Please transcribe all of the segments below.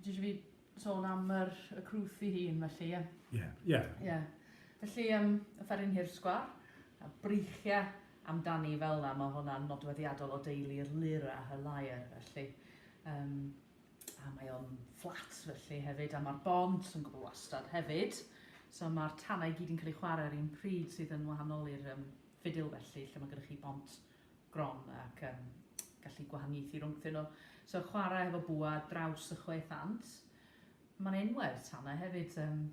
Dwi eisiau fi sôn am yr, y crwth i hun, felly, ie? Ie, yeah, ie. Yeah. Yeah. Felly, um, y fferin hir sgwar, a breichiau amdani fel yna, mae hwnna'n nodweddiadol o deulu'r lir a y lair, felly. Um, a mae o'n fflat felly hefyd, a mae'r bont yn gwbl wastad hefyd. So mae'r tanau gyd yn cael ei chwarae ar un pryd sydd yn wahanol i'r um, ffidil felly, lle mae gennych chi bont gron ac yn gallu gwahaniaethu rhwngthyn nhw. So chwarae hefo bwa draws y chwe thant. Mae'n enwau'r tanau hefyd. Um,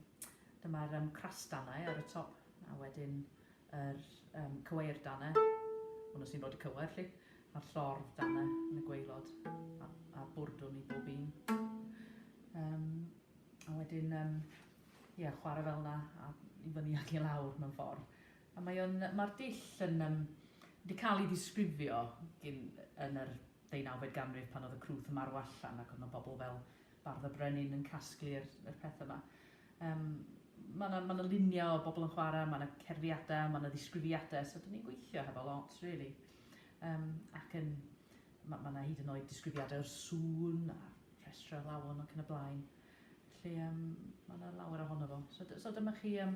Dyma'r um, crastanau ar y top a wedyn yr um, cyweir danau. Hwnnw sy'n bod y cywer chi. A'r llordd danau yn y gweilod a, a bwrdwn i bob un. Um, a wedyn um, yeah, chwarae fel yna a i fyny ac i lawr mewn ffordd. A mae o'n, mae'r dull yn yym wedi cael ei ddisgrifio gin yn yr ddeunawfed ganrif pan oedd y crwth yn marw allan ac oedd yna bobl fel Bardd y Brenin yn casglu yr yr pethe 'ma. Yym ma' 'na ma' 'na lunia o bobl yn chwara, ma' 'na cerddiada, ma' 'na ddisgrifiade so 'dan ni'n gweithio hefo lot rili. Yym ac yn ma' ma' 'na hyd yn oed disgrifiade o'r sŵn a rhestre o alawon ac yn y blaen. Felly yym ma' 'na lawer ohono fo. So so dyma chi yym